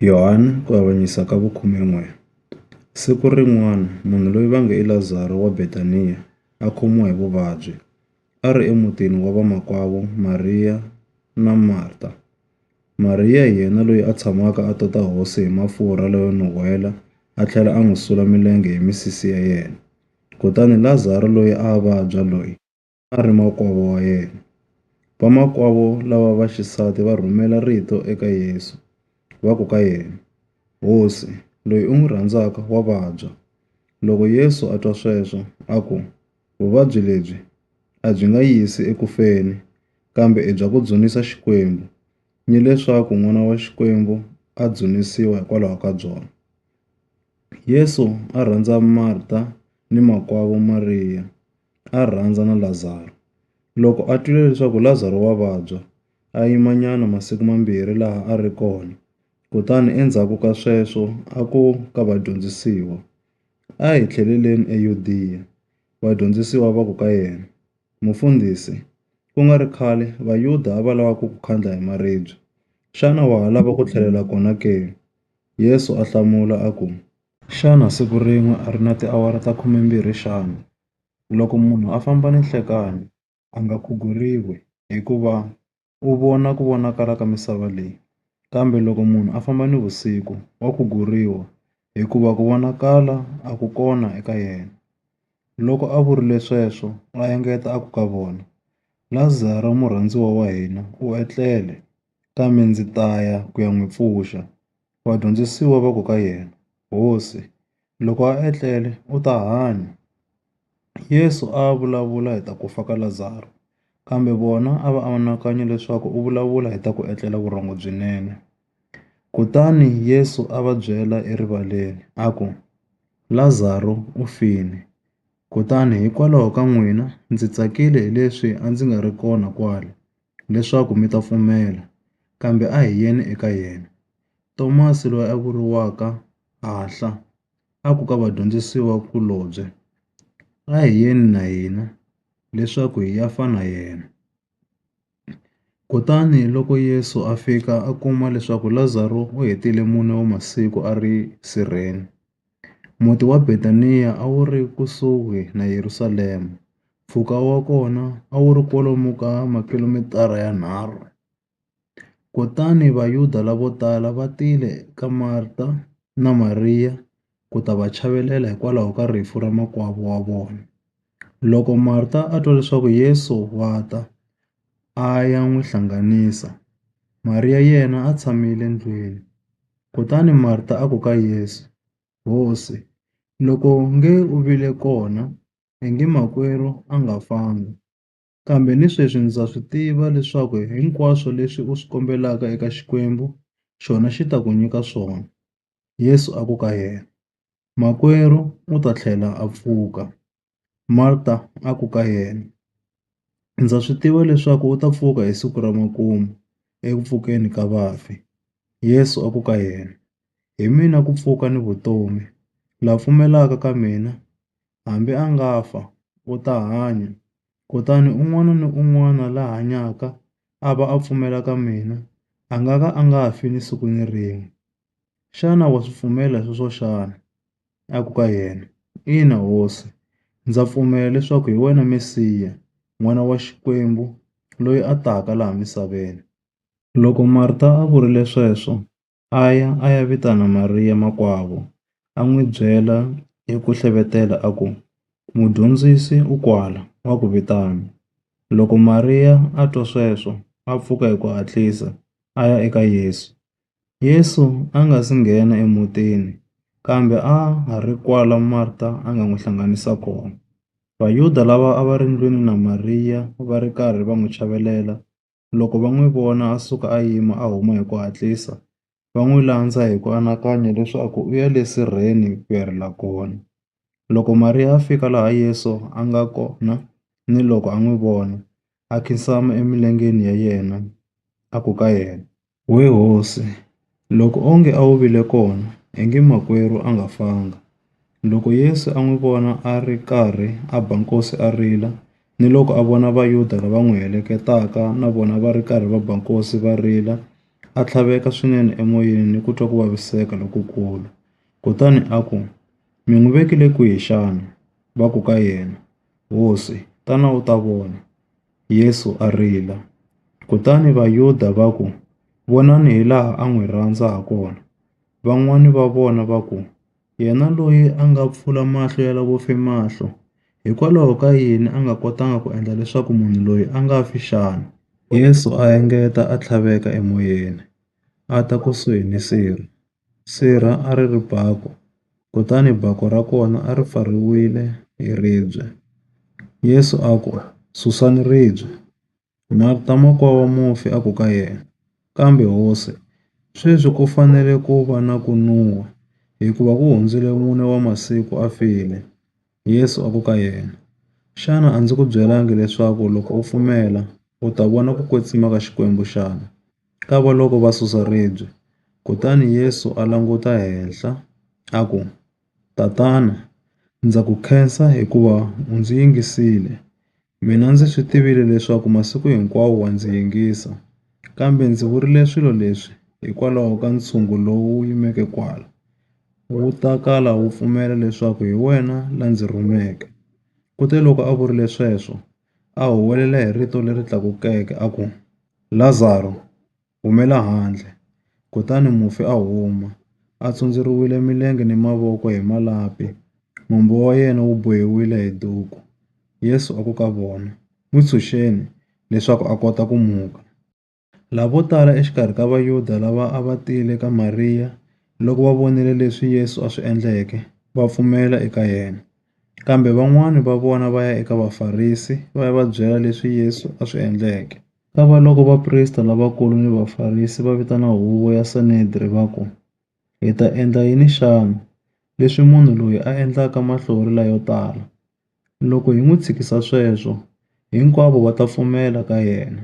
Yohani ku avanyisa ka vukhumen'we. Siku rin'wana munhu loyi va nge i Lazaro wa Betaniya a khomiwa hi vuvabyi, a ri emutini wa vamakwavo Mariya na Marta. Mariya hi yena loyi a tshamaka a tota hosi hi mafurha layo nuhela a tlhela a n'wi sula milenge hi misisi ya yena, kutani Lazaro loyi a a vabya loyi, a ri makwavo wa yena. Vamakwavo lava va xisati va rhumela rito eka Yesu, va ku ka yena, Hosi, loyi u n'wi rhandzaka wa vabya. Loko Yesu a twa sweswo, a ku, Vuvabyi lebyi a byi nga yisi eku feni, kambe i bya ku dzunisa Xikwembu, ni leswaku N'wana wa Xikwembu a dzunisiwa hikwalaho ka byona. Yesu a rhandza Marta ni makwavo Mariya. a rhandza na Lazaro. Loko a twile leswaku Lazaro wa vabya, a yimanyana masiku mambirhi laha a ri kona, kutani endzhaku ka sweswo a ku ka vadyondzisiwa, A hi tlheleleni eYudiya. Vadyondzisiwa va ku ka yena, Mufundhisi, ku nga ri khale Vayuda a va lava ku ku khandla hi maribye. Xana wa ha lava ku tlhelela kona ke? Yesu a hlamula a ku, Xana siku rin'we a ri na tiawara ta khumembirhi xana? Loko munhu a famba ni nhlekani, a nga khuguriwi hikuva u vona ku vonakala ka misava leyi. Kambe loko munhu a famba ni vusiku, wa khuguriwa hikuva ku vonakala a ku kona eka yena. Loko a vurile sweswo a engeta a ku ka vona, Lazaro murhandziwa wa hina u etlele. kambe ndzi ta ya ku ya n'wi pfuxa. Vadyondzisiwa va ku ka yena, Hosi, loko a etlele u ta hanya. Yesu a a vulavula hi ta ku fa ka Lazaro, kambe vona a va anakanye leswaku u vulavula hi ta ku etlela vurhongo byinene. Kutani Yesu a va byela erivaleni a ku, Lazaro u file, kutani hikwalaho ka n'wina ndzi tsakile hileswi a ndzi nga ri kona kwala, leswaku mi ta pfumela, kambe a hi yeni eka yena. Tomasi, loyi a vuriwaka Hahla, a ku ka vadyondzisiwa kulobye, A hi yeni na hina, leswaku hi ya fa na yena. Kutani loko Yesu a fika a kuma leswaku Lazaro u hetile mune wa masiku a ri sirheni, Muti wa Betaniya a wu ri kusuhi na Yerusalema, mpfhuka wa kona a wu ri kwalomu ka makhilomitara yanharhu. Kutani Vayuda lavo tala va tile ka Marta na Mariya ku ta va chavelela hikwalaho ka rifu ra makwavo wa vona. Loko Marta a twa leswaku Yesu wa ta, a ya n'wi hlanganisa, Mariya yena a tshamile ndlwini. Kutani Marta a ku ka Yesu, Hosi, loko u nge u vile kona, i nge makwerhu a nga fanga. Kambe ni sweswi ndza swi tiva leswaku hinkwaswo leswi u swi kombelaka eka Xikwembu, xona xi ta ku nyika swona. Yesu a ku ka yena, Makwerhu u ta tlhela a pfuka. Marta a ku ka yena, Ndza swi tiva leswaku u ta pfuka hi siku ra makumu eku pfukeni ka vafi. Yesu a ku ka yena, Hi mina ku pfuka ni vutomi, la pfumelaka ka mina, hambi a nga fa, u ta hanya. Kutani un'wana ni un'wana la hanyaka a va a pfumela ka mina, a nga ka a nga fi ni siku ni rin'we. Xana wa swi pfumela sweswo xana? A ku ka yena, Ina, Hosi. Ndza pfumela leswaku hi wena Mesiya, N'wana wa Xikwembu loyi a taka laha misaveni. Loko Marta a vurile sweswo, a ya a ya vitana Mariya makwavo, a n'wi byela hi ku hlevetela a ku, Mudyondzisi u kwala, wa ku vitana. Loko Mariya a twa sweswo, a pfuka hi ku hatlisa, a ya eka Yesu. Yesu a nga si nghena emutini, kambe a ha ri kwala Marta a nga n'wi hlanganisa kona. Vayuda lava a va ri ndlwini na Mariya va ri karhi va n'wi chavelela, Loko va n'wi vona a suka a yima a huma hi ku hatlisa, va n'wi landza hi ku anakanya leswaku u ya le sirheni ku ya rila kona. Loko Mariya a fika laha Yesu a nga kona ni loko a n'wi vona, a khinsama emilengeni ya yena a ku ka yena, We hosi, loko onge a wu vile kona, ingi makwerhu a nga fanga. Loko Yesu a n'wi vona a ri karhi a ba nkosi a rila, ni loko a vona Vayuda lava n'wi heleketaka na vona va ri karhi va ba nkosi va rila, a tlhaveka swinene emoyeni ni ku twa ku vaviseka lokukulu. Kutani a ku, Mi n'wi vekile kwihi xana? Va ku ka yena, Hosi, tana u ta vona. Yesu a rila. Kutani Vayuda va ku, Vonani hilaha a n'wi rhandza hakona! Van'wana va vona va ku, Yena loyi a nga pfula mahlo ya lavo fe mahlo, hikwalaho ka yini a nga kotanga ku endla leswaku munhu loyi a nga fi xana? Yesu a engeta a tlhaveka emoyeni, a ta kusuhi ni sirho. Sirha a ri ri baku, kutani baku ra kona a ri pfariwile hi ribye. Yesu a ku, Susani ribye. Marta makwa wa mufi a ku ka yena, Kambe Hosi, sweswi ku fanele ku va na ku nun'hwa, hikuva ku hundzile mune wa masiku a file. Yesu a ku ka yena, Xana a ndzi ku byelangi leswaku loko u pfumela, u ta vona ku kwetsima ka Xikwembu xana? Ka va loko va susa ribye. Kutani Yesu a languta henhla, a ku, Tatana, ndza ku khensa hikuva u ndzi yingisile. Mina ndzi swi tivile leswaku masiku hinkwawo wa ndzi yingisa, kambe ndzi vurile swilo leswi hikwalaho ka ntshungu lowu wu yimeke kwala, wu ta kala wu pfumela leswaku hi wena la ndzi rhumeke. Kuteloko a vurile sweswo, a huwelela hi rito leri tlakukeke a ku, Lazaro! Humela handle! Kutani mufi a huma, a tsondzeriwile milenge ni mavoko hi malapi, mombo wa yena wu bohiwile hi duku. Yesu a ku ka vona, N'wi tshunxeni, leswaku a kota ku muka. Lavo tala exikarhi ka Vayuda lava a va tile ka Mariya loko va vonile leswi Yesu a swi endleke, va pfumela eka yena. Kambe van'wana va vona va ya eka Vafarisi va ya va byela leswi Yesu a swi endleke. Kavaloko vaprista lavakulu ni Vafarisi va vitana huvo ya Sanedri va ku, Hi ta endla yini xana, leswi munhu loyi a endlaka mahlori layo tala? Loko hi n'wi tshikisa sweswo, hinkwavo va ta pfumela ka yena.